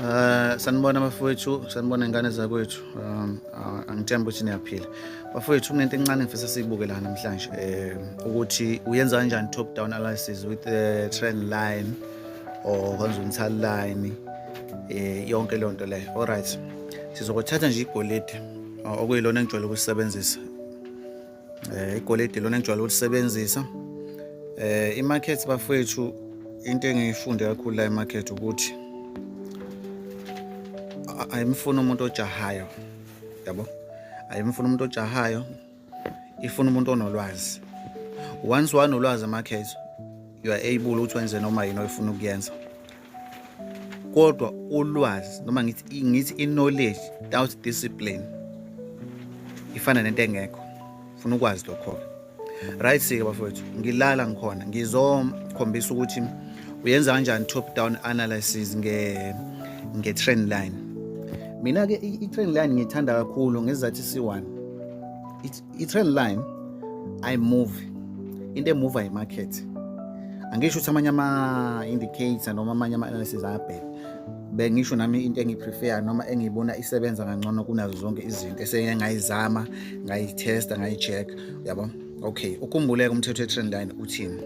Eh, sanibona bafowethu sanibona ingane zakwethu um, angithemba ukuthi niyaphila bafowethu kunento encane ngifisa siyibuke la namhlanje um ukuthi uyenza kanjani top down analysis with the trend line or konzuntal line um yonke leyo nto leyo all right sizokuthatha nje igolide oh, okuyilona engijwayele ukusebenzisa eh igolide lona engijwayele ukusebenzisa eh imarket bafethu into engiyifunde kakhulu la emarket ukuthi ayimfuni umuntu ojahayo yabo ayimfuni umuntu ojahayo ifuna umuntu onolwazi once wanolwazi amakhezo you are able ukuthi wenze noma yini oyifuna ukuyenza kodwa ulwazi noma ngithi ngithi i-knowledge without discipline ifana nento engekho funa ukwazi lokho-ke right sike bafowethu ngilala ngikhona ngizokhombisa ukuthi uyenza kanjani top down analysis nge-trend line mina-ke i-train line ngiyithanda kakhulu ngezizathu isi-one i-train line ayimuvi into emuva yimarket angisho ukuthi amanye ama-indicator noma amanye ama-analysis ayabheka bengisho nami into engiprefer noma engiyibona isebenza kangcono kunazo zonke izinto eseke ngayizama ngayithesta ngayi-check yabo okay ukhumbuleke umthetho we-trend line uthini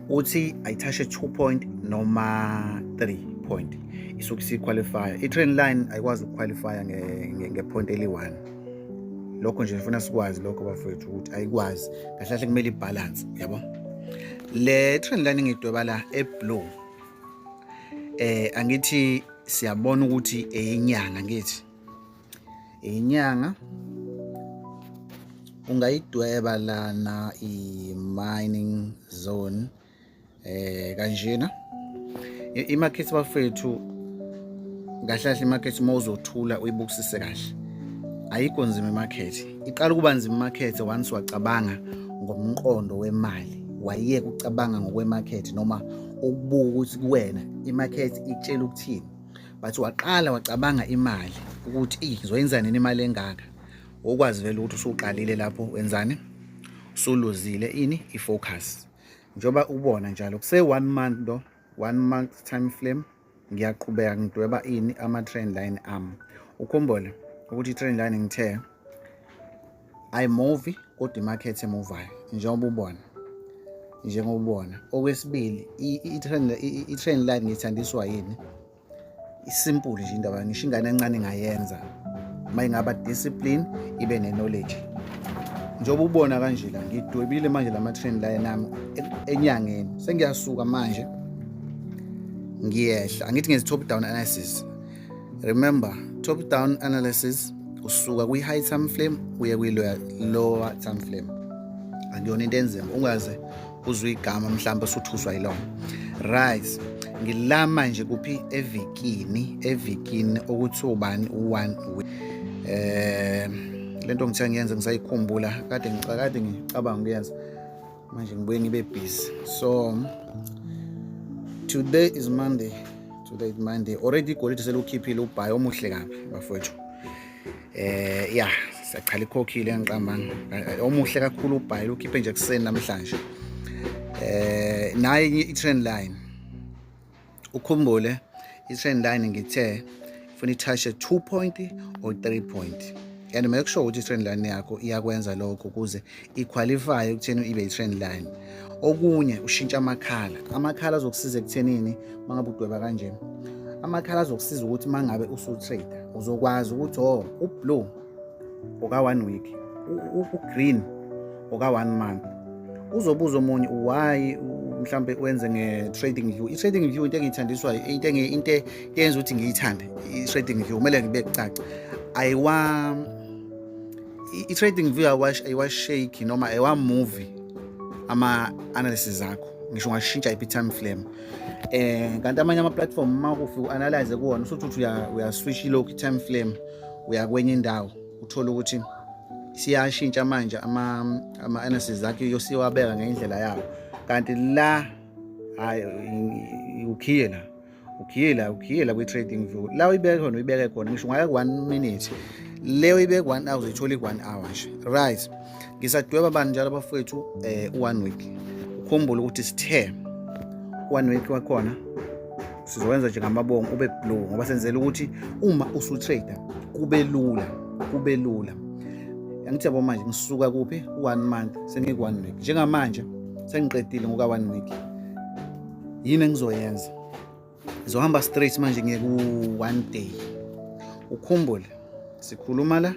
uthi ayithashe 2 point noma 3 point isuke isiqualifya i-train line ayikwazi ukuqualifya ngepoint eli-one lokho nje ngifuna sikwazi lokho bafowethu ukuthi ayikwazi kahle kahle kumele ibhalanse yabo le train line ngidweba la eblue eh angithi siyabona ukuthi eyinyanga ngithi inyanga ungayidweba lana i-mining zone eh kanjena imakhethi bafethu kahle kahle imakhethi uma uzothula uyibukisise kahle ayikho nzima imakhethi iqala ukuba nzima imakhethi once wacabanga ngomqondo wemali wayeka ucabanga ngokwemakhethi noma ukubuka ukuthi kuwena imakhethi ikutshela ukuthini but waqala wacabanga imali ukuthi eyi ngizoyenza nini imali engaka ukwazi vele ukuthi usuqalile lapho wenzani usuluzile ini i-focus njengoba ubona njalo kuse-one month lo one month time flame ngiyaqhubeka ngidweba ini ama-trend line ami ukhumbule ukuthi i-trend line ngithe I movie kodwa imarket emuvayo njengoba ubona njengoba ubona okwesibili i-train line ngithandiswa yini isimple nje indaba ngisho ingane encane ingayenza uma ingaba discipline ibe ne-knowledge njengoba ubona kanje la ngidwebile manje la ma-train line nami e-, enyangeni sengiyasuka manje ngiyehla angithi ngezi-top down analysis Remember, top down analysis usuka kwi high time frame uye kwi lower time frame. Akuyona into enzima ungaze uzwe igama mhlawumbe usuthuswa yilona. Right. Ngilama nje kuphi evikini evikini okuthi ubani u1 eh lento ngithe ngiyenze ngisayikhumbula kade ngicakade ngicabanga ukuyenza manje ngibuye ngibe busy so today is monday today is monday already igolide selukhiphile ubhayi omuhle kabi bafowethu eh ya siyachala ikhokhile engiqambanga eh, omuhle kakhulu ubhayi lukhiphe nje kuseni namhlanje eh naye i-trend line ukhumbule i-trend line ngithe funa ithashe 2 point or 3 point and make sure ukuthi i-trend line yakho iyakwenza lokho ukuze iqualifye ekutheni ibe i-trend line okunye ushintsha amakhala amakhala azokusiza ekuthenini uma ngabe udweba kanje amakhala azokusiza ukuthi uma ngabe usutrader uzokwazi ukuthi o oh, ublue oka one week ugreen oka one month uzobuza omunye why mhlambe wenze nge-trading view i-trading view into engiyithandiswa into into eyenza ukuthi ngiyithande i-trading view kumele ngibe kucaca ayiwa i-trading view ayiwashake noma ayiwamuvi ama-analysis akho ngisho ungashintsha iphi time flame um kanti amanye ama-platform uma kufi u-analyze kuwona usuthi uthi uyaswish ilokhu i-time flame uya kwenye indawo uthole ukuthi siyashintsha manje ama-analysis akhe yosiwabeka ngendlela yawo kanti la hayi ukhiye la ukhiye la ukhiye la kwi-trading view la uyibeke khona uyibeke khona ngisho ungayeka one minute leyo ibeke one hour uyithola i-one hour nje right ngisadweba bani njalo abafowethu um one week ukhumbule ukuthi sithe one week wakhona sizowenza nje ngamabongo ube blue ngoba senzela ukuthi uma usutrader kube lula kube lula angithi yabo manje ngisuka kuphi one month sengiku one week njengamanje sengiqedile ngoka one week yini engizoyenza Ngizohamba straight manje ngiye ku one day. Ukhumbule sikhuluma la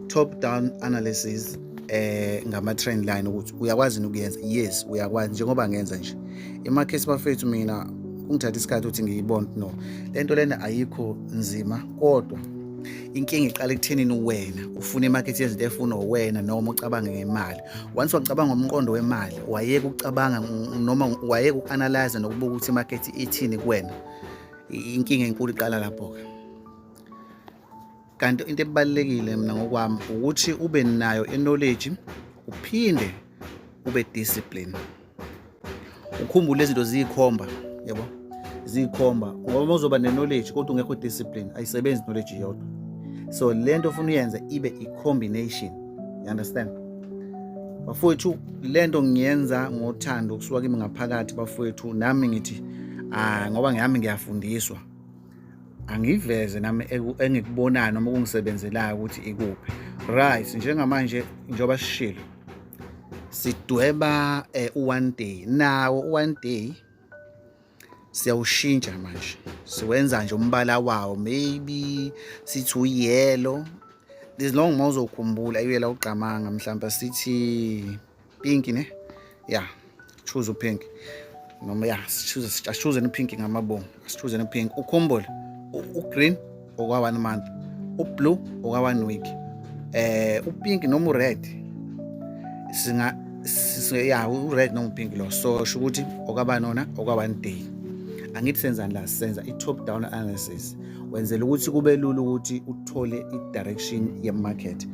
top down analysis eh ngama trend line ukuthi uyakwazi ukuyenza yes uyakwazi njengoba ngenza nje emakhesi bafethu mina kungithatha isikhathi ukuthi ngiyibone no lento lena ayikho nzima kodwa inkinga iqala ekuthenini wena ufuna imarket yezinto efuna wena noma ucabange ngemali once wacabanga umqondo wemali wayeke ukucabanga noma wayeke uku-analyze nokubuka ukuthi imarket ithini kuwena inkinga enkulu iqala lapho-ke kanti into ebalulekile mina ngokwami ukuthi ube nayo i-knowledge uphinde ube discipline ukhumbule izinto ziyikhomba yabo ziyikhomba ngoba uzoba ne-knowledge kodwa ungekho discipline ayisebenzi knowledge yodwa so le nto ofuna uyenze ibe i-combination you understand bafowethu le nto ngiyenza ngothando kusuka kimi ngaphakathi bafowethu nami ngithi ah ngoba ngihami ngiyafundiswa angiveze nami engikubonayo noma kungisebenzelayo ukuthi ikuphi right njengamanje njengoba sishilo sidweba eh, u-one day nawo u-one day siyawushintsha manje siwenza nje umbala wawo maybe sithi uyelo as long uma uzokhumbula uyela ugqamanga mhlawumbe sithi pinki ne ya yeah. choose upink noma ya asichuzeni upink ngamabongo asichuzeni upink ukhumbule ugreen okwa-one month ublue okwa-one week eh upink noma ured singa ya ured noma upink lo so sho ukuthi okaba nona okwa-one day angithi senzani la senza i-top down analysis wenzela ukuthi kube lula ukuthi uthole i-direction ye-market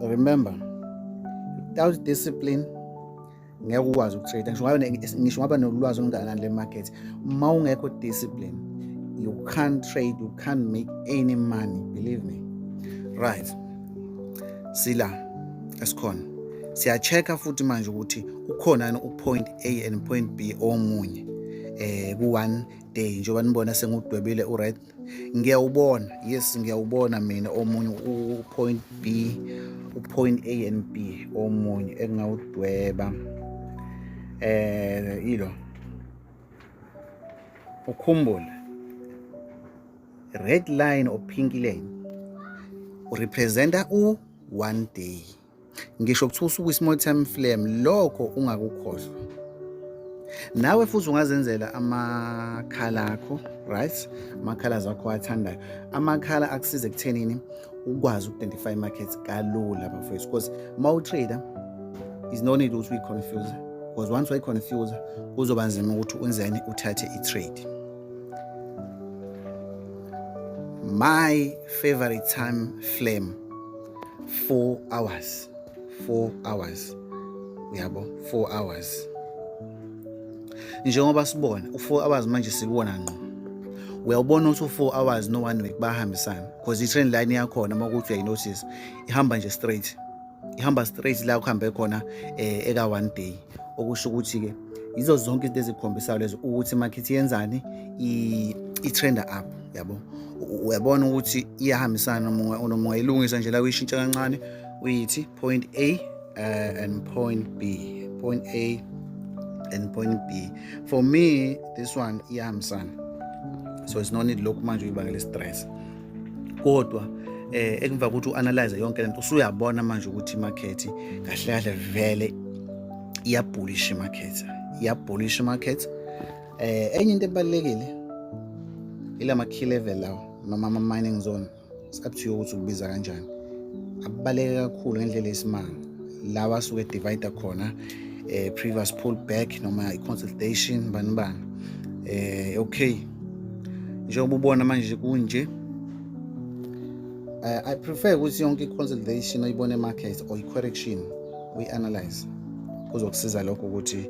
remember without discipline ngeke ukwazi ukutrade ngisho ngabe ngisho ngabe nolwazi olungakanani le market uma ungekho discipline you can't trade you can't make any money believe me right sila esikhona siya-check-a futhi manje ukuthi ukhona yini upoint a and point b omunye um eh, ku-one day njengoba nibona sengudwebile u-right ngiyawubona yes ngiyawubona mina omunye upoint b upoint a and b omunye engingawudweba eh ilo ukhumbule red line or pink line urepresenta u one day ngisho kuthiwa usuku i-small time flame lokho ungakukhohlwa nawe futhi ungazenzela amakhala akho right amakhala zakho athandayo amakhala akusiza ekuthenini ukwazi uku-identify markets kalula bafowethu because uma utrader is no need ukuthi uyi-confuse because once wayi-confuse kuzoba nzima ukuthi unzeni uthathe i-trade my favorite time flame 4 hours 4 hours yabo 4 hours njengoba sibona u4 hours manje sibona ngqo uyawubona ukuthi u4 hours no one week bahambisana because i train line yakhona uma ukuthi uyayi notice ihamba nje straight ihamba straight la kuhambe khona eh, eka one day okusho ukuthi ke yizo zonke izinto ezikhombisa lezo ukuthi market yenzani i trender up yabo uyabona ukuthi iyahambisana nomoya ilungisa nje la uyishintsha kancane uyithi point a uh, and point b point a and point b for me this one iyahambisana so it's no need lokhu manje uyibangela stress kodwa eh ekumva ukuthi uanalyze yonke lento usuyabona manje ukuthi market kahle kahle vele iyabhulisha market iyabhulisha market Eh enye into ebalekile ilama key level lawo noma ama mining zone sikabuthiyo ukuthi ukubiza kanjani abaleke kakhulu ngendlela esimanga lawa asuke divider khona eh previous pull back noma i consultation bani bani eh okay njengoba ubona manje kunje uh, i prefer ukuthi yonke i-consolidation oyibone market or i-correction uyi-analyze kuzokusiza lokho ukuthi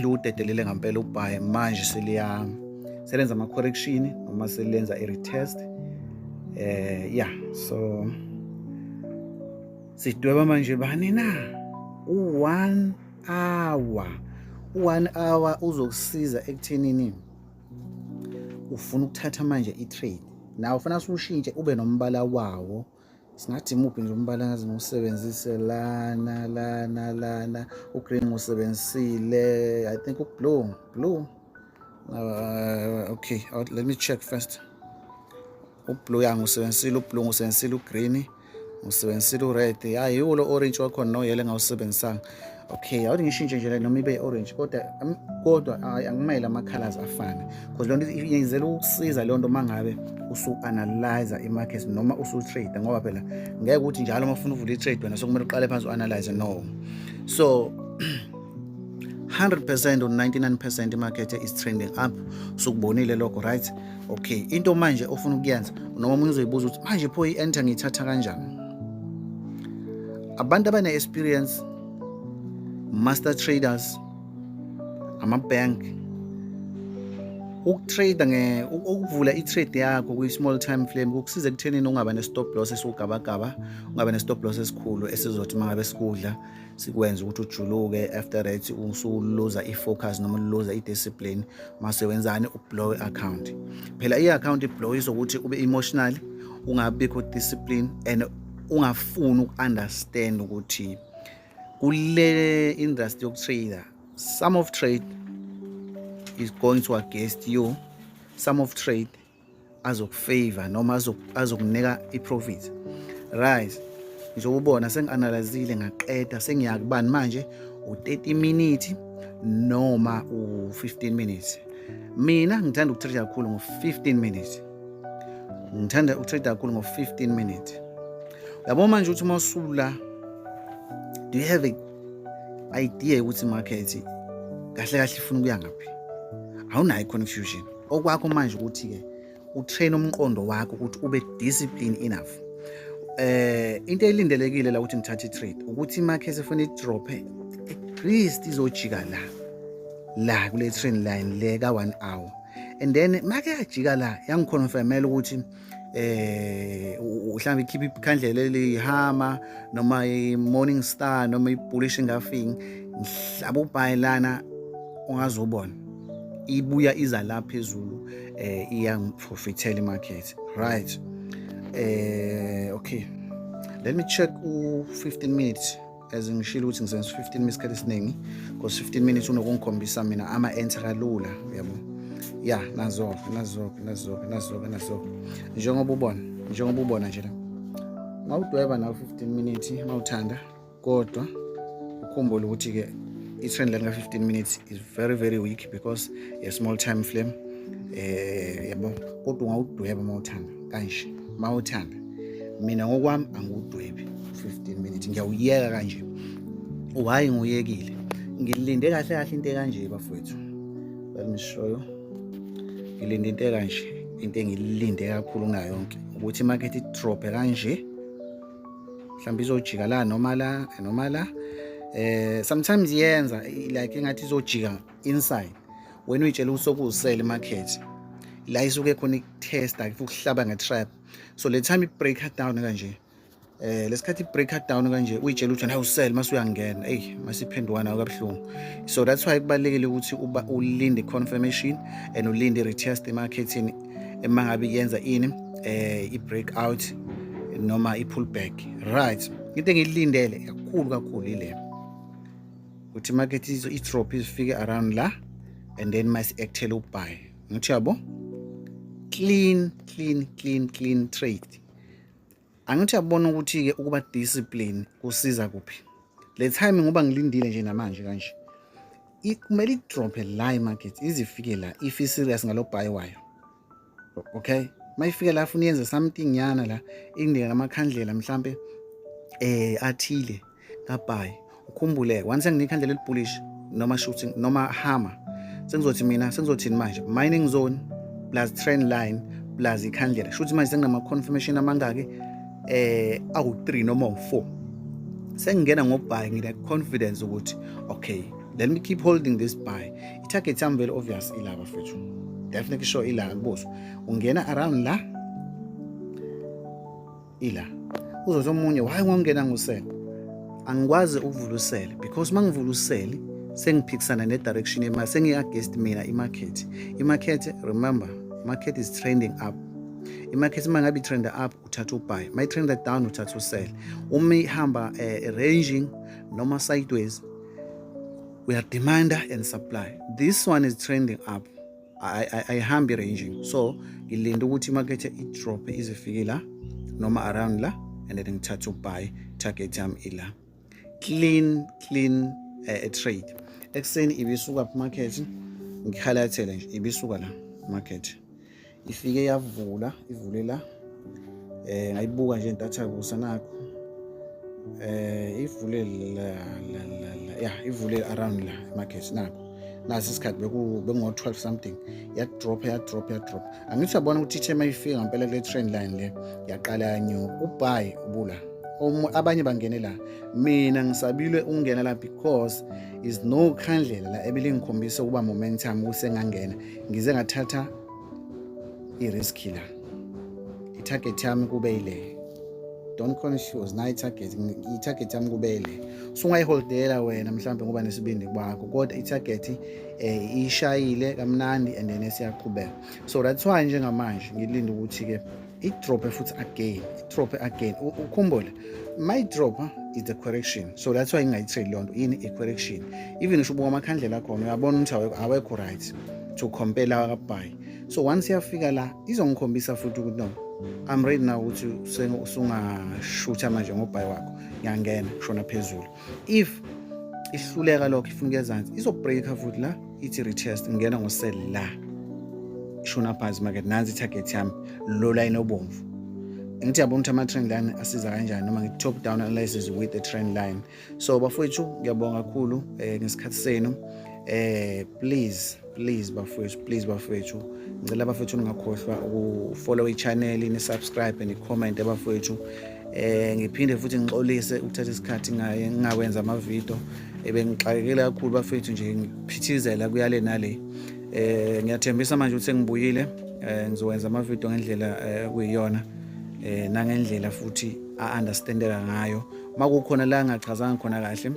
liwudedelile ngampela ubhayi manje seliya selenza ama correction noma selenza i retest eh ya so sidweba manje bani na u 1 hour u 1 hour uzokusiza ekuthenini ufuna ukuthatha manje i trade nawe ufuna siwushintshe ube nombala wawo singathi muphi nje umbala ngaze ngiwusebenzise lana lana lana ugreen ngiwusebenzisile i think ublue blue uh, okay uh, let me check first ublue ya ngiwusebenzisile ublue ngiwusebenzisile ugreen ngiwusebenzisile ured ya yiwo lo orange wakhona noyele ngawusebenzisanga okay awuthi ngishintshe nje noma ibe orange kodwa kodwa hayi angimele ama colors afane because lonto iyenzela ukusiza lonto mangabe usu analyze i market noma usu trade ngoba phela ngeke ukuthi njalo uma ufuna uvula i trade wena sokumele uqale phansi u analyze no so 100% or 99% market is trending up sukubonile lokho right okay into manje ofuna ukuyenza noma umuntu uzoyibuza ukuthi manje pho i-enter ngiyithatha kanjani abantu abane-experience master traders ama-bank ukutrade nge ukuvula i-trade yakho kwi-small time frame kukusiza ekuthenini ungaba ne-stop loss esiwugabagaba ungaba ne-stop loss esikhulu esizothi uma ngabe sikudla sikwenze ukuthi ujuluke after that usuluza i-focus noma uluza i-discipline mase wenzani ublow i-account phela i-account iblow izokuthi ube emotional ungabikho discipline and ungafuni uku-understand ukuthi kule industry yokutrader some of trade is going to against you some of trade azokufavor noma azokunika i-profit right njengoba ubona sengi-analyzile ngaqeda sengiya kubani manje u-30 minute noma u-15 minutes mina ngithanda ukutrader kakhulu ngo-15 minutes ngithanda ukutrade kakhulu ngo-15 minute yabo manje ukuthi uma usula do you have a idea yokuthi market kahle kahle ifuna ukuya ngaphi awunayo i-confusion okwakho manje ukuthi-ke utrain umqondo wakho ukuthi ube discipline enough eh into elindelekile la ukuthi ngithathe i-trade ukuthi i-market efuna i-drophe at least izojika la la kule train line le ka-one hour and then make yajika la yangiconfirmela ukuthi eh mhlawumbe ikhipha ikhandlela elihama noma i-morning star noma i-bullish engafing ngihlaba ubhayi lana ungazobona ibuya iza la phezulu eh iyangiprofithela imarket right eh okay let me check u 15 minutes as ngishilo ukuthi ngisenza 15 minutes isikhathi esiningi because 15 minutes unokungikhombisa mina ama-enter kalula uyabo ya nazoke nazoke nazoke nazoke nazoke njengoba ubona njengoba ubona nje la ngawudweba nawo 15 minutes uma uthanda kodwa ukhumbule ukuthi-ke i-trend line ka-15 minutes is very very weak because a small time flame um yabo kodwa ungawudweba uma uthanda kanje mawuthanda mina ngokwami angiwudwebi 15 minutes ngiyawuyeka kanje why nguyekile ngilinde kahle kahle into ekanje bafowethu let me show you ngilinde into ekanje into engilinde kakhulu kunayo yonke ukuthi market idrophe kanje mhlawumbe izojika la noma la noma la eh sometimes yenza like engathi izojika inside wena uyitshela ukuthi sokuwusele market la isuke khona ikutesta ukuhlaba ngetrap so le time i-break her down kanje eh lesikhathi i-break her down kanje uyitshela ukuthi naye usele mase uyangena eyi masiphenduka nayo kabuhlungu so that's why kubalulekile ukuthi uba ulinde i-confirmation and ulinde i-retest emarkethini uma ngabe yenza ini eh i-break out noma i-pull back right into engiyilindele kakhulu kakhulu ile ukuthi market i-drop izifike around la and then masi-actele ubuy ngithi yabo clean clean clean clean trade angithi yabona ukuthi-ke ukuba discipline kusiza kuphi le time ngoba ngilindile nje namanje kanje kumele idrophe la imarket izifike la if i-serious ngalo bhayi wayo okay mayifika la funa yenze something nyana la indlela amakhandlela mhlambe eh athile kabhayi ukhumbule once nginika ikhandlela elibhulish noma shooting noma hammer sengizothi mina sengizothini manje mining zone plus trend line plus ikhandlela shuthi manje senginama confirmation amangaki eh awu3 noma u4 sengingena ngobhayi ngine confidence ukuthi okay let me keep holding this buy Target yami very obvious ila bafethu. Definitely sure ila kubuzo. Ungena around la. Ila. Uzothi omunye why ngongena ngusele? Angikwazi ukuvula usele because mangivula usele sengiphikisana ne direction yemali sengi against mina i market. I market remember market is trending up. I market uma ngabe trend up uthatha ubuy. My trend down uthatha usele. Uma ihamba uh, ranging noma sideways we are demand and supply this one is trending up ayihambi ranging so ngilinde ukuthi imakethe idrophe izifike la noma around la and then ngithathe ubuy target yami ila clean clean uh, trade ekuseni ibisuka market ngikhalathele nje ibisuka la market ifike yavula ivule la eh ngayibuka nje ntatha kusa nakho eh ivule la la la ya ivule around la market nakho nasi isikhathi beku bengo 12 something ya drop ya drop ya drop angithi yabona ukuthi ithe mayifika ngempela kule train line le yaqala yanyo ubhayi ubula abanye bangene la mina ngisabile ukungena la because is no khandlela la ebelingikhombisa ukuba momentum kusengangena ngize ngathatha iriski la itarget yami kube ile don't confuse nayo itarget itarget yami kube ile sungayiholdela wena mhlawumbe ngoba nesibindi kwakho kodwa itarget eh ishayile kamnandi and then siyaqhubeka so that's why njengamanje ngilinde ukuthi ke idrophe futhi again idrophe again ukhumbule my drop is the correction so that's why ngingayitheli leyo nto yini i-correction even usho ubuka amakhandlela akhona uyabona ukuthi awekho right to compare lawa kabhayi so once iyafika la izongikhombisa futhi ukuthi no i'm ready now ukuthi usungashutha manje ngobhayi wakho ngiyangena shona phezulu if ihluleka lokho ifuna ukuyezansi izobreaker futhi la ithi retest ngena ngosel la ishona phansi market nansi itarget yami lo line obomvu ngithi yabona ukuthi ama-trend line asiza kanjani noma ngithi top down analysis with the trend line so bafowethu ngiyabonga kakhulu um ngesikhathi senu um please please bafowethu please bafowethu ngicela bafowethu ningakhohlwa ukufollow i-channel ni-subscribe ni-comment bafowethu eh ngiphinde futhi ngixolise ukuthatha isikhathi ngaye ngingakwenza amavidiyo ebengixakekile kakhulu bafethu nje ngiphithizela kuyale nale eh ngiyathembisa manje ukuthi ngibuyile eh ngizowenza amavidiyo ngendlela eh, kuyiyona eh nangendlela futhi a-understandeka ngayo makukhona la ngachazanga khona kahle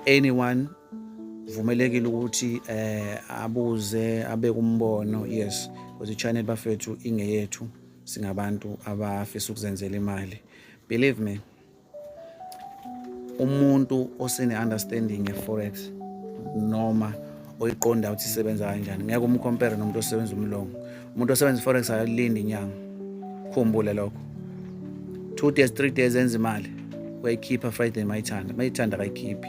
anyone vumelekile ukuthi eh abuze abe kumbono yes because ichannel bafethu ingeyethu singabantu abafisa ukuzenzela imali believe me umuntu osene understanding ye forex noma oyiqonda ukuthi isebenza kanjani ngeke umcompare nomuntu osebenza umlongo umuntu osebenza forex akalindi inyanga khumbule lokho two days three days enza imali uyayikhipha friday mayithanda mayithanda akayikhiphi